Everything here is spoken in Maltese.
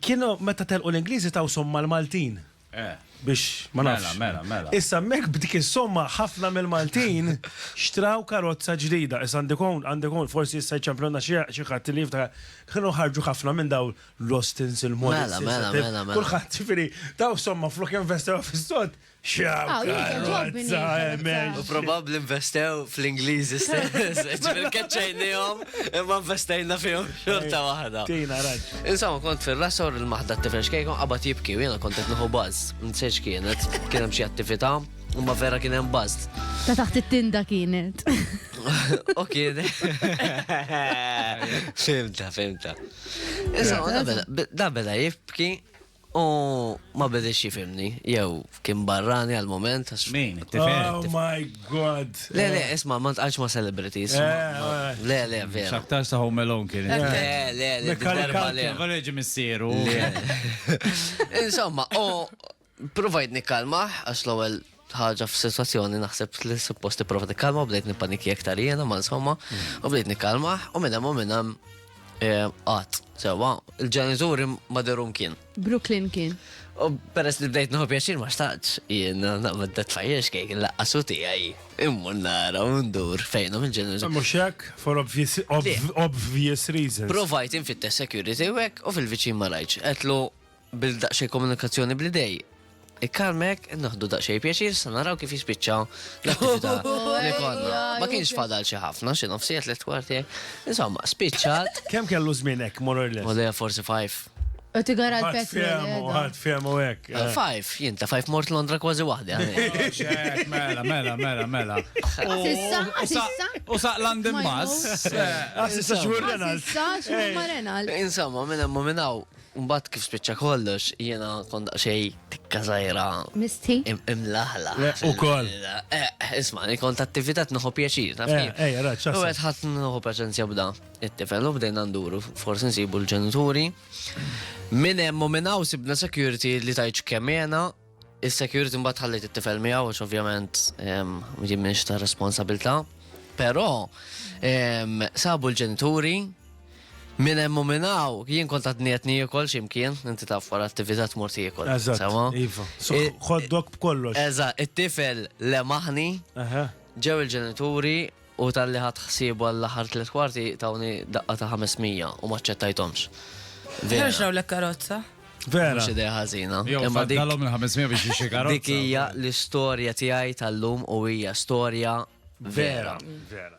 Kienu meta telqu l-Ingliżi taw somma l-Maltin. Eh. Biex ma nafx. Mela, mela, mela. Issa hemmhekk b'dik is-somma ħafna mill-Maltin xtraw karozza ġdida. Issa għandek hawn, għandek hawn, forsi issa jċemplunna xi xi ħadd li jiftakar. Kienu ħarġu ħafna minn dawn l-Austins, il-Morrisons, Mela, mela, il-Tef- mela, mela. kulħadd ġifieri taw somma flok investewha fis-sod, Probabbli investew fl-Ingliżi stess, ġifieri keċċejnihom imma investejna fihom xorta waħda. Tina raġ. Insomma, kont fir-rasor il-maħda tifel xkejkom qabad jibki u jiena kont qed nieħu baż. Nsejx kienet, kien hemm xi attività, imma vera kien hemm baż. Ta' taħt it-tinda kienet. U kien. Fimta, fimta. Insomma, da beda jibki U ma bidilx jifimni, jew kien barrani għal moment. Min, tifel? Oh my god! Le, le, isma, ma tqajx ma celebrities. Le, le, vera. Xaktar sa Home Alone kien. Le, le, le, darba le. Għalreġi missieru. Insomma, u provajt nikkalmaħ, għax l-ewel ħaġa f'sitwazzjoni naħseb li suppost tipprova tikkalma u bdejt nippaniki aktar jiena ma insomma u bdejt nikkalma u minn hemm u minn hemm qatt sewwa il-ġenituri ma derum kien. Brooklyn kien. U peress li bdejt nħobb jaxin ma xtaqx, jien naqmed dat fajjex kejk il-laqqasu tijaj, immu nara u ndur fejnom il-ġenus. Muxek, for obvious, obvious reasons. Provajt infitte security wek u fil-vicin ma rajċ. Etlu Bil daqsxejn komunikazzjoni bl-idej. Ikkalmek, naħdu daqsxejn pjaċir sa naraw kif jispiċċa l-attività li konna. Ma kienx fadal xi ħafna, xi nofsijiet li twarti. Insomma, spiċċat. Kemm kellu żmien hekk more or less? Ole, forsi five. U tigara Ħadd l-pet. fehmu, ħadd fehmu hekk. eh. Five, jien ta' five mort Londra kważi waħda. Xek, Mela, mela, mela, mela. U- Sissa, u sa- sissa. U saq London Ma Bus. jmut. Eh, Ah, s'issa xmur Renal. Sissa, xmur ma Renal. Insomma, minn hemm u minn hawn, Mbagħad kif spiċċa kollox, jiena kont daqsxejn tikka żgħira. Misti? Imlaħlaħ. Le, ukoll. Isma', li kont attività tneħħu pjaċir, taf kif? Ejja, raġ, x'aħseb. U qed ħadd nħu paċenzja b'da. It-tifel u bdejna nduru, forsi nsibu l-ġenituri. Minn hemm u minn hawn sibna security li tgħidx kemm jena, Is-security mbagħad ħallejt it-tifel miegħu għax ovvjament jien m'iniex ta' responsabilità. Però sabu l-ġenituri Min hemm u minn hawn, jien kont għadni qed niekol x'imkien, inti taf wara attività tmur tiekol. Eżatt. Iva. Ħoddok b'kollox. Eżatt, it-tifel lemaħni, ġew il-ġenituri U talli ħadt ħsiebu għall-aħħar tliet kwarti tawni daqqa ta' ħames mija u m'aċċettajthomx. Ħerġ rawlek karozza. Vera. Mhux idea ħażina. Jew imma dik dalhom il-500 biex jixi karozza. Dik hija l-istorja tiegħi tal-lum u hija storja vera. Vera.